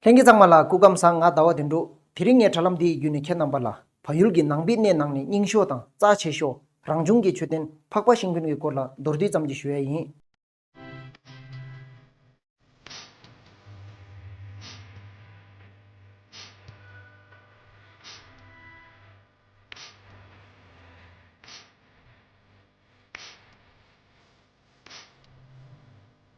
ལྷན་སྐྱེས་གཙང་མ་ལ་སྐུ་ཁམས་བཟང་ང་ཟླ་བ་འདི་འགྲོ། དེ་རིང་ངས་དྲ་ལམ་འདི་ཡི་བརྒྱུད་ནས་ཁྱེད་རྣམ་པ་ལ། བལ་ཡུལ་གྱི་ནང་པའི་གནས་ནང་ནས་རྙིང་ཞོ་དང་རྩ་ཆེ་ཞོ། རང་བྱུང་གི་མཆོད་རྟེན་འཕགས་པ་ཤིང་ཕུན་གྱི་སྐོར་ལ་མདོར་བསྡུས་ཙམ་གྱིས་ཞུ་ཡས་ཡིན།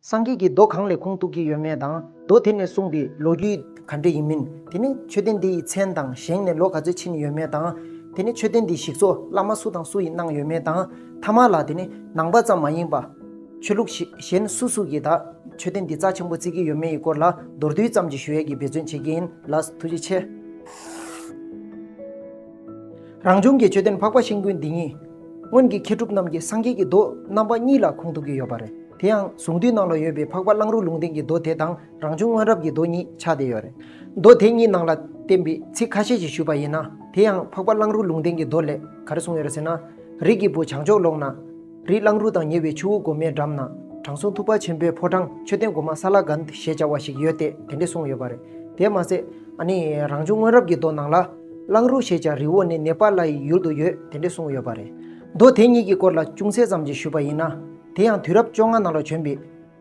སངས་རྒྱས་ཀྱི་མདོ་གང་ལས་ཁུངས་གཏུགས་ཀྱི་ཡོད་མེད་དང། མདོ་དེ་ནས་གསུངས་པའི་ལོ་རྒྱུས་ག་འདྲ་ཡིན་མིན། དེ་ནི་མཆོད་རྟེན་དེ་ཡི་མཚན་དང་བཞེངས་ནས་ལོ་ག་ཚོད་ཕྱིན་ཡོད་མེད་དང། དེ་ནི་མཆོད་རྟེན་དེའི་ཞིག་གསོ་བླ་མ་སུ་དང་སུ་ཡིས་གནང་ཡོད་མེད་དང། ཐ་མ་ལ་དེ་ནི་ནང་པ་ཙམ་མ་ཡིན་པ། ཆོས་ལུགས་གཞན་སུ་སུ་ཡིས་ད་མཆོད་རྟེན་འདི་རྩ་ཆེན་པོ་བརྩིགས་ཀྱི་ཡོད་མེད་ཡི་སྐོར་ལ་མདོར་བསྡུས་ཙམ་གྱིས་ཞུ་ཡས་ཀྱིས་འབད་བརྩོན་བྱེད་ཀྱིན་ལ་ཐུགས་རྗེ་ཆེ། རང་བྱུང་གི་མཆོད་རྟེན་འཕགས་པ་ཤིང་ཀུན་འདི་ཉིད། སྔོན་གྱི་མཁས་གྲུབ་རྣམས་ཀྱིས་སངས་རྒྱས་ཀྱི་མདོ་རྣམ་པ་གཉིས་ལ་ཁུངས་གཏུགས་ཀྱི་ཡོད་པ་རེད། དེ་ཡང་གཟུངས་འདུས་ནང་ལ་ཡོད་པའི་འཕགས་པ་གླང་རུ་ལུང་བསྟན་གྱི་མདོ་དེ་དང་རང་བྱུང་སྔོན་རབས་ཀྱི་མདོ་གཉིས་ཆགས་བསྡད་ཡོད་རེད། མདོ་དེ་གཉིས་ནང་ལ་བསྟན་པའི་ཚིག་ཁ་ཤས་ཤིག་ཞུས་པ་ཡིན་ན། དེ་ཡང་འཕགས་པ་གླང་རུ་ལུང་བསྟན་གྱི་མདོ་ལས་ག་རེ་གསུངས་ཡོད་རེད་ཟེར་ན། རིགས་ཀྱི་བུ་བྱང་ཕྱོགས་ལོགས་ན། རི་གླང་རུ་དང་ཉེ་བའི་ཆུ་བོ་སྒོ་མའི་འགྲམ་ན། དྲང་སྲོང་ཐུབ་པ་ཆེན་པོའི་ཕོ་བྲང་མཆོད་རྟེན་སྒོ་མ་ས་ལ་གནྡྷི་ཞེས་བྱ་བ་ཞིག་ཡོད་དེ་དེ་འདྲས་གསུངས་ཡོད་པ་རེད། དེར་མ་ཟད། རང་བྱུང་སྔོན་རབས་ཀྱི་མདོ་ནང་ལ། གླང་རུ་ཞེས་བྱ་རི་བོ་ནི་ནེ་པ་ལ་ཡི་ཡུལ་དུ་ཡོད་དེ་འདྲེ་གསུངས་ཡོད་པ་རེད། མདོ་དེ་གཉིས་ཀྱི་སྐོར་ལ་ཅུང་ཟད་ཙམ་གྱིས་ཞུས་པ་ཡིན་ན། དེ་ཡང་དུས་རབས་བཅོ་ལྔ་ནང་ལ་བྱོན་པའི།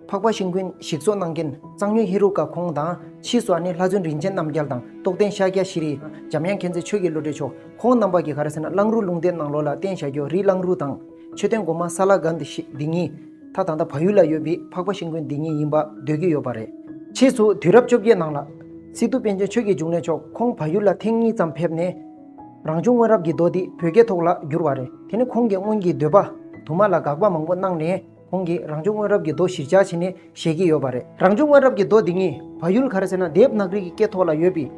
འཕགས་པ་ཤིང་ཀུན་ཞིག་གཙོ་གནང་མཁན་གཙང་སྨྱོན་ཧེ་རུ་ཀ་ཁོང་དང། ཕྱིས་སུ་ཨ་ནེ་ལྷ་བཙུན་རིན་ཆེན་རྣམ་རྒྱལ་དང་རྟོགས་ལྡན་ཤཱཀྱ་ཤྲཱི་རི། འཇམ་དབྱངས་མཁྱེན་བརྩེ་ཆོས་ཀྱི་བློ་གྲོས་མཆོག་ཁོང་རྣམ་པ་ཀྱིས་ག་རེ་ཟེར་ན་གླང་རུ་ལུང་བསྟན་གནང་ལོ་ལ་བརྟེན་བྱ་རྒྱོ་རི་གླང་རུ་དང། མཆོད་རྟེན་སྒོ་མ་ས་ལ་ག་འདི་ཞིག་འདི་ཉིད། ད་ད་ད་བལ་ཡུལ་ལ་ཡོད་པའི་འཕགས་པ་ཤིང་དགོན་འདི་ཉིད་ཡིན་པ་འདོད་ཀྱི་ཡོད་པ་རེད། ཕྱིས་སུ་དུས་རབས་བཅོ་བརྒྱད་ནང་ལ། སི་ཏུ་པཎ་ཆེན་ཆོས་ཀྱི་འབྱུང་གནས་མཆོག་ཁོང་བལ་ཡུལ་ལ་ཐེངས་གཉིས་ཙམ་ཕེབས་ནས། རང་བྱུང་སྔོན་རབས་ཀྱི་མདོ་འདི་བོད་སྐད་ཐོག་ལ་བསྒྱུར་བ་རེད། དེ་ནི་ཁོང་གི་སྔོན་གྱི་འདོད་པ། དུ་མ་ལ་དགག་པ་མང་པོ་གནང་ནས། ཁོང་གིས་རང་བྱུང་སྔོན་རབས་ཀྱི་རྡོ་གཞིར་བཅར་བྱས་ནས་བཞད་ཀྱི་ཡོད་པ་རེད། རང་བྱུང་སྔོན་རབས་ཀྱི་རྡོ་འདི་གཉིས་བ་ཡུལ་ག་རེ་ཟེར་ན་དེབ་ནག་རིགས་ཀྱི་སྐད་ཐོག་ལ་ཡོད་པས།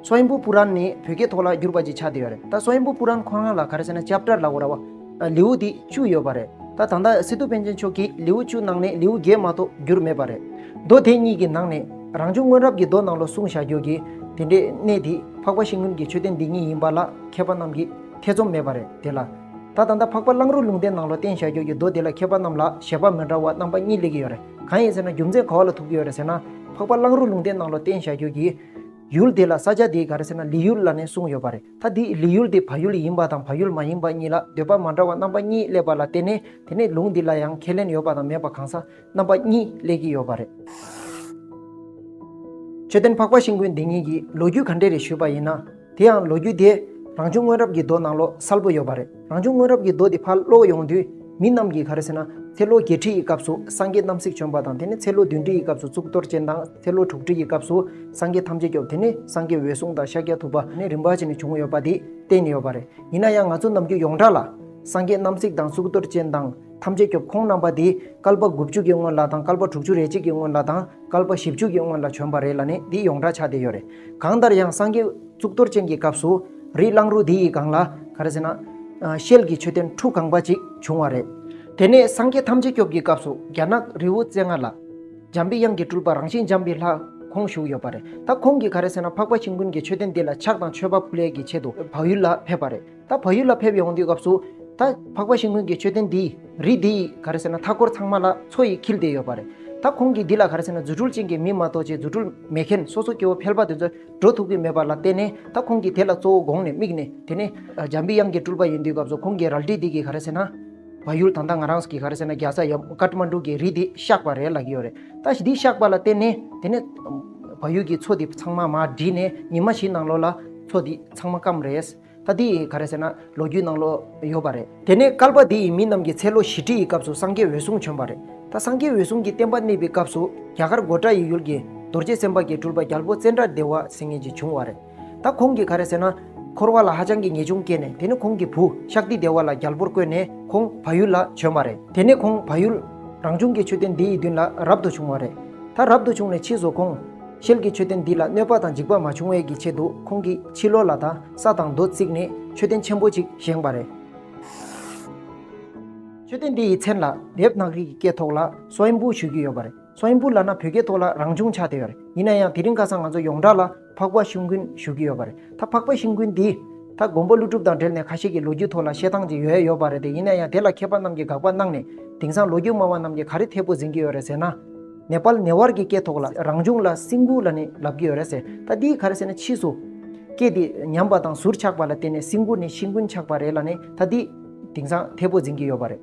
སོ་ཨིན་པུ་པུ་རན་ནི་བོད་སྐད་ཐོག་ལ་བསྒྱུར་པ་ཅིག་ཆགས་བསྡད་ཡོད་རེད་ད་སོ་ཨིན་པུ་པུ་རན་ཁོ་རང་ལ་ག་རེ་ཟེར་ན་ལྕགས་དྲྭར་ལ་འོ་ར་བ། ལེའུ་དེ་བཅུ་ཡོད་པ་རེད་ད་ད་ལྟ་སིདྡྷུ་པཎ་ཆེན་མཆོག་གིས་ལེའུ་བཅུ་ནང་ནས་ལེའུ་བརྒྱད་མ་གཏོགས་བསྒྱུར་མེད་པ་རེད། རྡོ་དེ་གཉིས་ཀྱི་ནང་ནས་རང་བྱུང་སྔོན་རབས་ཀྱི་རྡོ་ནང་ལོ་གསུང་བྱ་རྒྱུ་གི་དེ་འདྲའི་གནད་དེ་འཕགས་པ་ཤིང་ཀུན་གྱི་མཆོད་རྟེན་འདི་གཉིས་ཡིན་པ་ལ་མཁས་པ་རྣམས་ཀྱིས་ཐེ་ཚོམ་མེད་པ་རེད་དེ་ལ། ད་ད་ལྟ་འཕགས་པ་གླང་རུ་ལུང་བསྟན་ནང་ལོ་བསྟན་བྱ་རྒྱུ་ཡི་མདོ་འདི་ལ་མཁས་པ་རྣམས་ལ་བཞེད་པ་མི་འདྲ་བ་རྣམ་པ་གཉིས་ལེགས་ཀྱི་ཡོད་རེད་གང་ཡིན་ཟེར་ན་རྒྱུ་མཚན་ག་བ་ལ་ཐུག་གི་ཡོད་རེད་ཟེར་ན། འཕགས་པ་གླང་རུ་ལུང་བསྟན་ནང་ལོ་བསྟན་བྱ་རྒྱུ་ཡི། ཡུལ་དེ་ལ་ས་ཆ་དེའི་ག་རེ་ཟེར་ན་ལི་ཡུལ་ལ་ནས་གསུངས་ཡོད་པ་རེད་ད་དེ་ལི་ཡུལ་དེ་བ་ཡུལ་ཡིན་པ་དང་བ་ཡུལ་མ་ཡིན་པ་གཉིས་ལ་འདོད་པ་མ་འདྲ་བ་རྣམ་པ་གཉིས་སླེབས་པ་ལ་བརྟེན་ནས་དེ་ནས་ལུང་འདི་ལ་ཡང་ཁས་ལེན་ཡོད་པ་དང་མེད་པ་གང་ས་རྣམ་པ་གཉིས་སླེབས་ཀྱི་ཡོད་པ་རེད། མཆོད་རྟེན་འཕགས་པ་ཤིང་ཀུན་འདི་ཉིད་ཀྱི་ལོ་རྒྱུས་ག་འདྲས་རེ་ཞུས་པ་ཡིན་ན། དེ་ཡང་ལོ་རྒྱུས་དེ་རང་བྱུང་སྔོན་རབས་ཀྱི་རྡོ་ནང་ལོགས་སལ་པོ་ཡོད་པ་རེད། རང་བྱུང་སྔོན་རབས་ཀྱི་རྡོ་དེ་ཕར་སློག་ཡོང་དུས་མི་རྣམས་ཀྱིས་ག་རེ་ཟེར་ན་ཚེ་ལོ་བརྒྱད་ཁྲི་ཡི་སྐབས་སུ་སངས་རྒྱས་རྣམ་གཟིགས་བྱོན་པ་དང་དེ་ནས་ཚེ་ལོ་བདུན་ཁྲི་ཡི་སྐབས་སུ་གཙུག་ཏོར་ཅན་དང་ཚེ་ལོ་དྲུག་ཁྲི་ཡི་སྐབས་སུ་སངས་རྒྱས་ཐམས་ཅད་སྐྱོབ་དེ་ནས་སངས་རྒྱས་འོད་སྲུང་དང་ཤཱཀྱ་ཐུབ་པ་ནས་རིམ་པ་བྱས་ནས་བྱུང་ཡོད་པ་དེ་བསྟན་ཡོད་པ་རེད། ཡིན་ན་ཡང་ང་ཚོ་ནམ་རྒྱུན་ཡོངས་གྲགས་ལ། སངས་རྒྱས་རྣམ་གཟིགས་དང་གཙུག་ཏོར་ཅན་དང། ཐམས་ཅད་སྐྱོབ་ཁོང་རྣམ་པ་འདི་སྐལ་པ་དགུ་བཅུ་གྱི་སྔོན་ལ་དང་སྐལ་པ་དྲུག་ཅུ་རེ་གཅིག་གི་སྔོན་ལ་དང་སྐལ་པ་བཞི་བཅུ་གྱི་སྔོན་ལ་བྱོན་པ་རེད་ལ་ནི་འདི་ཡོངས་གྲགས་ཆགས་བསྡད་ཡོད་རེད། གང་ལྟར་ཡང་སངས་རྒྱས་གཙུག་ཏོར་ཅན་གྱི་སྐབས་སུ། རི་གླང་རུ་འདི་ཡི་སྒང་ལ། ག་རེ་ཟེར་ན། ཤེལ་གྱི་མཆོད་རྟེན་ཁྲུ་གང་པ་ཅིག་བྱུང་བ་རེད། དེ་ནས་སངས་རྒྱས་ཐམས་ཅད་སྐྱོབ་ཀྱི་སྐབས་སུ་རྒྱ་ནག་རི་བོ་རྩེ་ལྔ་ལ། འཇམ་པའི་དབྱངས་ཀྱི་སྤྲུལ་པ་རང་བཞིན་འཇམ་པའི་ལྷ་ཁོང་བཞུགས་ཡོད་པ་རེད། ད་ཁོང་གིས་ག་རེ་ཟེར་ན་འཕགས་པ་ཁྱིམ་ཀུན་གྱི་མཆོད་རྟེན་འདི་ལ་ཕྱག་དང་མཆོད་པ་ཕུལ་ལས་ཀྱི་ཆེད་དུ་བག་ཡུལ་ལ་ཕེབས་པ་རེད། ད་བལ་ཡུལ་ལ་ཕེབས་ཡོང་དུས་སྐབས་སུ། ད་འཕགས་པ་ཤིང་ཀུན་གྱི་མཆོད་རྟེན་འདི། རི་འདི་ཡིས་ག་རེ་ཟེར་ན་མཐའ་སྐོར་ཚང་མ་ལ་མཚོ་ཡིས་འཁྱིལ་ཏེ་ཡོད་པ་རེད། ད་ཁོང་གིས་འདི་ལ་ག་རེ་ཟེར་ན་རྫུ་འཕྲུལ་ཅན་གྱི་མི་མ་གཏོགས་ཆེད་རྫུ་འཕྲུལ་མེད་མཁན་སོ་སོ་སྐྱེ་བོ་ཕལ་པ་དེ་ཚོས་འགྲོ་ཐུབ་ཀྱི་མེད་པ་ལ་བརྟེན་ནས་ད་ཁོང་གིས་དེ་ལ་གཙོ་བོ་དགོངས་ནས་དམིགས་ནས་དེ་ནི། འཇམ་པའི་དབྱངས་ཀྱི་སྤྲུལ་པ་ཡིན་དུས་སྐབས་སུ་ཁོང་གིས་རལ་གྲི་འདི་གིས་ག་རེ་ཟེར་ན། བལ་ཡུལ་ད་ལྟ་ང་རང་གིས་ག་རེ་ཟེར་ན་རྒྱ་བཟའ་ཡབ་ཀརྨ་འབྲུག་གིས་རི་འདི་བཤགས་པ་རེད་ལབ་ཀྱི་ཡོད་རེད། ད་འདི་བཤགས་པ་ལ་བརྟེན་ནས་དེ་ནི། བལ་ཡུལ་གྱི་མཚོ་འདི་ཚང་མ་མར་བསྒྲིལ་ནས་ཉི་མ་བཞིན་ནང་ལོགས་ལ་མཚོ་འདི་ཚང་མ་སྐམ་རེད། ད་འདི་ཡི་ག་རེད་ཟེར་ན་ལོ་རྒྱུས་ནང་ལོ་ཡོད་པ་རེད། དེ་ནས་སྐལ་པ་འདི་ཡི་མི་རྣམས་ཀྱི་ཚེ་ལོ་བཞི་ཁྲི་ཡི་སྐབས་སུ་སངས་རྒྱས་འོད་སྲུང་བྱོན་པ་རེད། ད་སངས་རྒྱས་འོད་སྲུང་གི་བསྟན་པ་གནས་པའི་སྐབས་སུ་རྒྱ་གར་མགོ་བཀྲ་ཡི་ཡུལ་གྱི་རྡོ་རྗེ་སེམས་དཔའ་གྱི་སྤྲུལ་པ་རྒྱལ་པོ་ཙནྡྲ་བདེ་བ་སེང་ངེ་འཇིགས་བྱུང་བ་རེད། ད་ཁོང་གིས་ག་རེད་ཟེར་ན། འཁོར་བ་ལ་ཧ་ཅང་གི་ཉེས་ཆུང་སྐྱེས་ནས་དེ་ནས་ཁོང་གི་བུ་ཤཱཀ་ཏི་བདེ་བ་ལ་རྒྱལ་པོར་བསྐོས་ནས་ཁོང་བ་ཡུལ་ལ་བྱོན་པ་རེད། དེ་ནས་ཁོང་བ་ཡུལ། རང་བྱུང་གི་མཆོད་རྟེན་འདི་ཡི་མདུན་ལ་རབ་ཏུ་བྱུང་བ་རེད། ད་རབ་ཏུ་བྱུང་ནས་ཕྱིས་སུ་ཁོང། ཤེལ་གྱི་མཆོད་རྟེན་འདི་ལ་གནོད་པ་དང་འཇིགས་པ་མ་བྱུང་བས་ཀྱི་ཆེད་དུ་ཁོང་གིས་ཕྱི་ལོགས་ལ་དང་ས་དང་རྡོ་བརྩིགས་ནས་མཆོད་རྟེན་ཆེན་པོ་ཅིག་བཞེངས་པ་རེད། མཆོད་རྟེན་འདི་ཡི་མཚན་ལ་དེབ་ནག་རིགས་ཀྱི་སྐད་ཐོག་ལ་སོ་ཨིན་པུའུ་ཞུས་ཀྱི་ཡོད་པ་རེད། སོ་ཨིན་པུའུ་ལ་ན་བོད་སྐད་ཐོག་ལ་རང་བྱུང་ཕྱག་དེ་ཡོད་རེད། ཡིན་ན་ཡང་དེ་རིང་ཁ་སང་ང་ཚོ་ཡོངས་གྲགས་ལ་འཕགས་པ་ཤིང་ཀུན་ཞུས་ཀྱི་ཡོད་པ་རེད། ད་འཕགས་པ་ཤིང་ཀུན་འདིས་ད་དགོན་པ་ཀླུ་སྒྲུབ་དང་འབྲེལ་ནས་ཁ་ཤས་ཀྱི་ལོ་རྒྱུས་ཐོག་ལ་བཤད་སྟངས་ཅིག་ཡོད་ཡོད་པ་རེད་དེ་ཡིན་ན་ཡང་དེ་ལ་མཁས་པ་རྣམས་ཀྱིས་དགག་པ་གནང་ནས་དེང་སང་ལོ་རྒྱུས་སྨྲ་བ་རྣམས་ཀྱིས་ག་རེ་འཐད་པོ་འཛིན་གྱི་ཡོད་རེད་ཟེར་ན། ནེ་པཱལ་ནས་བར་གྱི་སྐད་ཐོག་ལ་རང་བྱུང་ལ་སིང་གུ་ལ་ནི་ལབ་ཀྱི་ཡོད་རེད་ཟེར་ད་འདི་ག་རེད་ཟེར་ན་ཕྱིས་སུ། སྐད་དེ་ཉམས་པ་དང་ཟུར་ཆག་པ་ལ་བརྟེན་ནས་སིང་གུ་ནི་ཤིང་ཀུན་ཆག་པ་རེད་ལ་ནི་ད་འདི། དེང་སང་ཐེ་པོ་འཛིན་གྱི་ཡོད་པ་རེད།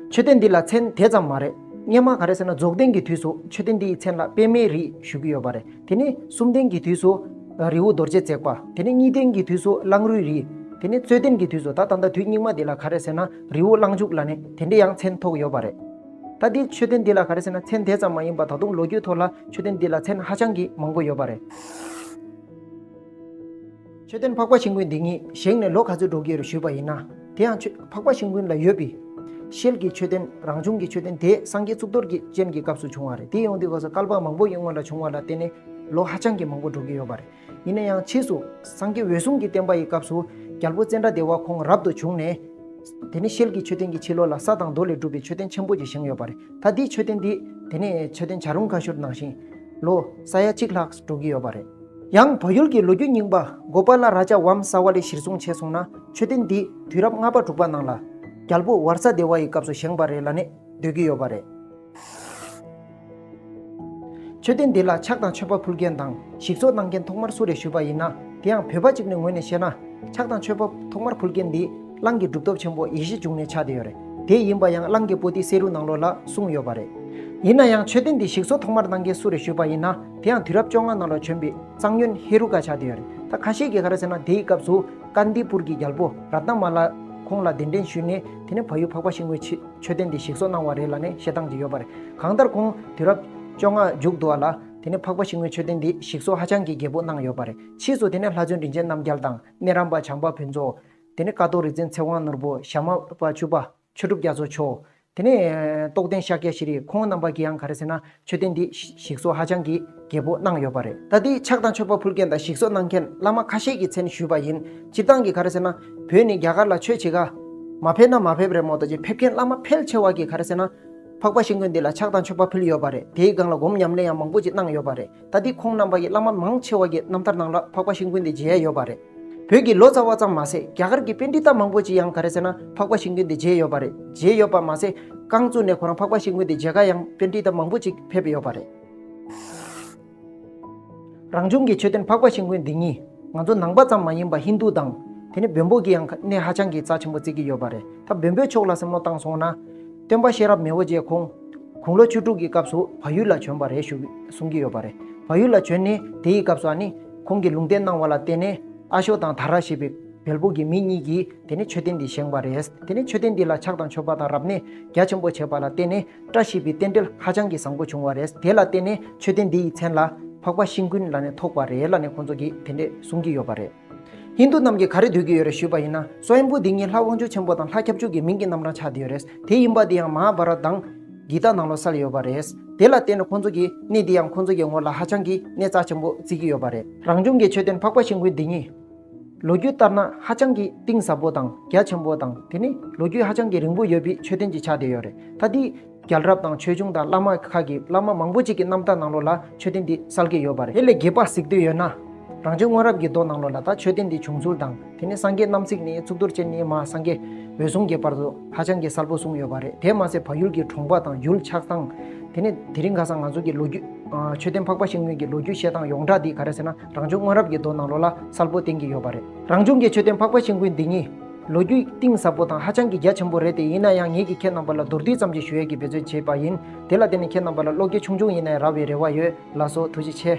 མཆོད་རྟེན་འདི་ལ་མཚན་དེ་ཙམ་མ་རེད། སྙེ་མ་ག་རེད་ཟེར་ན་རྫོགས་ལྡན་གྱི་དུས་སུ་མཆོད་རྟེན་འདིའི་མཚན་ལ་པད་མའི་རི་ཞུ་གི་ཡོད་པ་རེད་དེ་ནི་སུམ་ལྡན་གྱི་དུས་སུ། རི་བོ་རྡོ་རྗེ་བརྩེགས་པ་དེ་ནི་གཉིས་ལྡན་གྱི་དུས་སུ་གླང་རུའི་རི། དེ་ནི་རྩོད་ལྡན་གྱི་དུས་སུ་ད་ད་ལྟ་དུས་སྙིགས་མ་འདི་ལ་ག་རེད་ཟེར་ན་རི་བོ་གླང་ཕྱུག་ལ་ནི་དེ་འདྲའི་ཡང་མཚན་ཐོགས་ཡོད་པ་རེད། ད་ལྟའི་མཆོད་རྟེན་འདི་ལ་ག་རེ་ཟེར་ན་མཚན་དེ་ཙམ་མ་ཡིན་པར་ད་དུང་ལོ་རྒྱུས་ཐོག་ལ་མཆོད་རྟེན་འདི་ལ་མཚན་ཧ་ཅང་གི་མང་པོ་ཡོད་པ་རེད། མཆོད་རྟེན་འཕགས་པ་ཤིང་ཀུན་འདི་ཉིད་བཞེངས་ནས་ལོ་ག་ཚོད་འགྲོ་གི་རེད་ཞུས་པ་ཡིན་ན། དེ་ཡང་འཕགས་པ་ཤིང་ཀུན་ལ་ཡོད་པའི། ཤེལ་གྱི་མཆོད་རྟེན་རང་བྱུང་གི་མཆོད་རྟེན་དེ་སངས་རྒྱས་གཙུག་ཏོར་གྱི་སྤྱན་གྱི་སྐབས་སུ་བྱུང་བ་རེད་དེ་ཡོང་དུས་ཁོ་ཚོ་སྐལ་པ་མང་པོ་ཡིན་སྔོན་ལ་བྱུང་བ་ལ་བརྟེན་ནས་ལོ་ཧ་ཅང་གི་མང་པོ་འགྲོ་གི་ཡོད་པ་རེད། ཡིན་ན་ཡང་ཕྱིས་སུ་སངས་རྒྱས་འོད་སྲུང་གི་བསྟན་པ་ཡི་སྐབས་སུ་རྒྱལ་པོ་ཙནྡྲ་དེ་བ་ཁོང་རབ་ཏུ་བྱུང་ནས། དེ་ནས་ཤེལ་གྱི་མཆོད་རྟེན་གྱི་ཕྱི་ལོགས་ལ་ས་དང་རྡོ་ལས་གྲུབ་པའི་མཆོད་རྟེན་ཆེན་པོ་ཅིག་བཞེངས་ཡོད་པ་རེད་ད་དེའི་མཆོད་རྟེན་འདི་དེ་ནས་མཆོད་རྟེན་བྱ་རུང་ཁ་ཤོར་ནང་བཞིན། ལོ་ས་ཡ་གཅིག་ལྷག་འགྲོ་གི་ཡོད་པ་རེད། ཡང་བོད་ཡུལ་གྱི་ལོ་རྒྱུས་རྙིང་པ་གོ་པ་ལ་ར་ཅའ་བམ་ས་བ་ལས་གཞིར་བཟུང་བྱས་སོང་ན་མཆོད་རྟེན་འདི་དུས་རབས་ལྔ་པ་དྲུག་པ་ནང་ལ། རྒྱལ་པོ་ཝར་ས་དེ་བ་ཡི་སྐབས་སུ་བཞེངས་པ་རེད་ལ་ནས་སྡོད་ཀྱི་ཡོད་པ་རེད། མཆོད་རྟེན་འདི་ལ་ཕྱག་དང་མཆོད་པ་ཕུལ་མཁན་དང་ཞིག་གསོ་གནང་མཁན་ཐོག་མར་སུ་རེད་ཞུས་པ་ཡིན་ན་དེ་ཡང་བོད་པ་གཅིག་ནས་ངོས་ནས་བཤད་ན། ཕྱག་དང་མཆོད་པ་ཐོག་མར་ཕུལ་མཁན་འདི་གླང་གི་གྲུབ་ཐོབ་ཆེན་པོ་ཡེ་ཤེས་འབྱུང་གནས་ཕྱག་དེ་ཡོད་རེད་དེ་ཡིན་པ་ཡང་གླང་གི་པོ་ཏི་བསེ་རུ་ནང་ལོགས་ལ་གསུངས་ཡོད་པ་རེད། ཡིན་ན་ཡང་མཆོད་རྟེན་འདི་ཞིག་གསོ་ཐོག་མར་གནང་མཁན་སུ་རེད་ཞུས་པ་ཡིན་ན་དེ་ཡང་དུས་རབས་བཅོ་ལྔ་ནང་ལོགས་བྱོན་པའི་གཙང་སྨྱོན་ཧེ་རུ་ཀ་ཕྱག་དེ་ཡོད་རེད་ད་ཁ་ཤས་ཀྱིས་ག་རེ་ཟེར་ན་དེའི་སྐབས་སུ་ཀ་ནྡི་པུར་གྱི་རྒྱལ་པོ་ར་ཏྣ་མ་ལ་ཁོང་ལ་གདན་འདྲེན་ཞུས་ནས་དེ་ནས་བ་ཡུལ་འཕགས་པ་ཞིག་ངོས་ཕྱི། མཆོད་རྟེན་དེ་ཞིག་གསོ་གནང་བ་རེད་ལ་ནི་བཤད་སྟངས་ཅིག་ཡོད་པ་རེད། གང་ལྟར་ཁོང་དུས་རབས་བཅོ་ལྔ་མཇུག་བསྡུ་བ་ལ། དེ་ནས་འཕགས་པ་ཤིང་མོའི་མཆོད་རྟེན་འདི་ཞིག་གསོ་ཧ་ཅང་གི་རྒྱས་པོ་གནང་ཡོད་པ་རེད། ཕྱིས་སུ་དེ་ནས་ལྷ་བཙུན་རིན་ཆེན་རྣམ་རྒྱལ་དང་གནས་རམས་པ་བྱམས་པ་ཕུན་ཚོགས། དེ་ནས་ཀ་ཐོག་རིག་འཛིན་ཚེ་དབང་ནོར་བུ་ཞྭ་དམར་པ་བཅུ་པ། ཆོས་གྲུབ་རྒྱ་མཚོ་མཆོག། དེ་ནས་རྟོགས་ལྡན་ཤཱཀྱ་ཤྲཱི་རིས་ཁོང་རྣམ་པ་ཀྱིའང་ག་རེ་ཟེར་ན། མཆོད་རྟེན་འདི་ཞིག་གསོ་ཧ་ཅང་གི་རྒྱས་པོ་གནང་ཡོད་པ་རེད་ད་དེའི་ཕྱག་དང་མཆོད་པ་ཕུལ་མཁན་དང་ཞིག་གསོ་གནང་མཁན་བླ་མ་ཁ་ཤས་ཀྱི་མཚན་ཞུས་པ་ཡིན་སྤྱིར་བཏང་གི་ག་རེ་ཟེར་ན་བོད་ནི་རྒྱ་གར་ལ་ཆོས་བྱེད་ག་མ་ཕེབས་ན་མ་ཕེབས་རེད་མོད་ད་ཅིག་ཕེབས་མཁན་བླ་མ་ཕལ་ཆེ་བ་གི་ག་རེ་ཟེར་ན་འཕགས་པ་ཤིང་ཀུན་འདི་ལ་ཕྱག་དང་མཆོད་པ་ཕུལ་ཡོད་པ་རེད་དེའི་སྒང་ལ་སྒོམ་ཉམས་ལེན་ཡང་མང་པོ་ཅིག་གནང་ཡོད་པ་རེད་ད་དེ་ཁོང་རྣམ་པ་ཡི་བླ་མ་མང་ཆེ་བ་གི་རྣམ་ཐར་ནང་ལ་འཕགས་པ་ཤིང་ཀུན་འདི་མཇལ་ཡོད་པ་རེད། བོད་ཀྱི་ལོ་ཙཱ་བ་ཙམ་མ་ཟད་རྒྱ་གར་གྱི་དཔེ་འབྲི་སྟངས་མང་པོ་ཅིག་ཡང་ག་རེ་ཟེར་ན་འཕགས་པ་ཤིང་དྲུང་དེ་མཇལ་ཡོད་པ་རེད་མཇལ་ཡོད་པ་མ་ཟད་རྐང་བཙུགས་ནས་ཁོ་རང་འཕགས་པ་ཤིང་དྲུང་དེ་མཇལ་ཁ་ཡང་དཔེ་འབྲི་སྟངས་མང་པོ་ཅིག་ཕེབས་ཡོད་པ་རེད། རང་བྱུང་གི་མཆོད་རྟེན་འཕགས་པ་ཤིང་དྲུང་འདི་གཉིས་ང་ཚོ་ནང་པ་ཙམ་མ་ཡིན་པར་ཧིན་རྡུ་དང། དེ་ནས་བོན་པོ་གྱིས་ཡང་གནས་ཧ་ཅང་གི་རྩ་ཆེན་པོ་བརྩིགས་ཀྱི་ཡོད་པ་རེད་ད་བོན་པོའི་ཕྱོགས་ལ་སེམས་བློ་བཏང་སོང་ན། སྟོན་པ་གཤེན་རབ་མི་བོ་རྗེ་ཁོང་དགུང་ལོ་བཅུ་དྲུག་གི་སྐབས་སུ་བ་ཡུལ་ལ་བྱོན་པ་རེད་བཞུགས་གསུངས་ཀྱི་ཡོད་པ་རེད་བ་ཡུལ་ལ་བྱོན་ནས་དེའི་སྐབས་སུ་ཨ་ནི། ཁོང་གིས་ལུང་བསྟན་གནང་བ་ལ་བརྟེན་ནས་ཨ་ཤོ་དང་དྷ་ར་ཞེས་པའི་བལ་པོ་གྱི་མི་གཉིས་ཀྱིས་དེ་ནས་མཆོད་རྟེན་འདི་བཞེངས་པ་རེད། དེ་ནས་མཆོད་རྟེན་འདི་ལ་ཕྱག་དང་མཆོད་པ་དང་རབ་གནས་རྒྱ་ཆེན་པོ་བྱས་པ་ལ་བརྟེན་ནས་བཀྲ་ཤིས་པའི་རྟེན་འབྲེལ་ཧ་ཅང་གི་བཟང་པོ་བྱུང་བ་རེད། དེ་ལ་བརྟེན་ནས་མཆོད་རྟེན་འདི་ཡི་མཚན་ལ་འཕགས་པ་ཤིང་ཀུན་ལ་ནས་ཐོགས་པ་རེད་ལ་ནས་ཁོང་ཚོ་གིས་དེ་འདྲས་གསུང་གི་ཡོད་པ་རེད། ཧིན་དུ་རྣམས་ཀྱིས་ག་རེ་འདོད་ཀྱི་ཡོད་རེད་ཞུས་པ་ཡིན་ན་སོ་ཨེན་པོ་འདི་གཉིས་ལྷ་དབང་ཕྱུག་ཆེན་པོ་དང་ལྷ་ཁྱབ་འཇུག་གི་མིང་གི་རྣམ་གྲངས་ཆགས་འདི་ཡོད་རེད་དེ་ཡིན་པ་འདི་ཡང་མ་ཧ་བྷ་ར་དང། འདི་དག་ནང་ལོགས་སར་ཡོད་པ་རེད། དེ་ལ་བརྟེན་ནས་ཁོ་ཚོ་གིས་གནས་འདི་ཡང་ཁོ་ཚོ་གི་ངོར་ལ་ཧ་ཅང་གི་གནས་རྩ་ཆེན་པོ་བརྩི་གི་ཡོད་པ་རེད། རང་བྱུང་གི་མཆོད་རྟེན་འཕགས་པ་ཆེན་ཁུལ་འདི་ཉིད། ལོ་རྒྱུས་ལྟར་ན་ཧ་ཅང་གི་གཏིང་ཟབ་པོ་དང་རྒྱ་ཆེན་པོ་དང་དེ་ནི་ལོ་རྒྱུས་ཧ་ཅང་གི་རིང་པོ་ཡོད་པའི་མཆོད་རྟེན་གྱི་ཆ་དེ་ཡོད་རེད། ད་དེའི་རྒྱལ་རབས་དང་ཆོས་འབྱུང་དང་བླ་མ་ཁག་གི་བླ་མ་མང་པོ་ཅིག་གི་རྣམ་ཐར་ནང་ལོགས་ལ་མཆོད་རྟེན་འདི་གསལ་གི་ཡོད་པ་རེད། དེ་ལས་རྒྱས་པར་གཟིགས་འདོད་ཡོད་ན། རང་བྱུང་སྔོན་རབས་ཀྱི་རྡོ་ནང་ལོགས་ལ་ད་མཆོད་རྟེན་འདི་བྱུང་ཚུལ་དང་དེ་ནི་སངས་རྒྱས་རྣམ་གཟིགས་ནི་གཙུག་ཏོར་ཅན་ནི་མ་སངས་རྒྱས་འོད་སྲུང་གི་བར་དུ། ཧ་ཅང་གི་གསལ་པོ་གསུངས་ཡོད་པ་རེད་དེ་མ་ཟད་བག་ཡོད་ཀྱི་གྲོང་པ་དང་ཡུལ་ཆགས་སྟངས། དེ་ནས་དེ་རིང་ག་སང་ང་ཚོ་གི་ལོ་རྒྱུས། མཆོད་རྟེན་འཕགས་པ་ཤིང་སྨྱོན་གྱི་ལོ་རྒྱུས་བཤད་སྟངས་ཡོངས་གྲགས་འདི་ག་རེད་ཟེར་ན་རང་བྱུང་སྔོན་རབས་ཀྱི་མདོ་ནང་ལོ་ལ་གསལ་པོ་བསྟན་གྱི་ཡོད་པ་རེད། རང་བྱུང་གི་མཆོད་རྟེན་འཕགས་པ་ཤིང་སྐུད་འདི་གཉིས། ལོ་རྒྱུས་གཏིང་ཟབ་པོ་དང་ཧ་ཅང་གི་རྒྱ་ཆེན་པོ་རེད་དེ་ཡིན་ན་ཡང་ངེད་ཀྱིས་ཁྱེད་རྣམ་པ་ལ་མདོར་བསྡུས་ཙམ་ཞིག་ཞུ་ཡས་ཀྱི་འབད་བརྩོན་བྱས་པ་ཡིན་དེ་ལ་བརྟེན་ནས་ཁྱེད་རྣམ་པ་ལ་བློ་སྐྱེད་ཆུང་ཆུང་ཡིན་ནའི་ར་བའི་རེ་བ་ཡོད་ལགས་སོ་ཐུགས་རྗེ་ཆེ།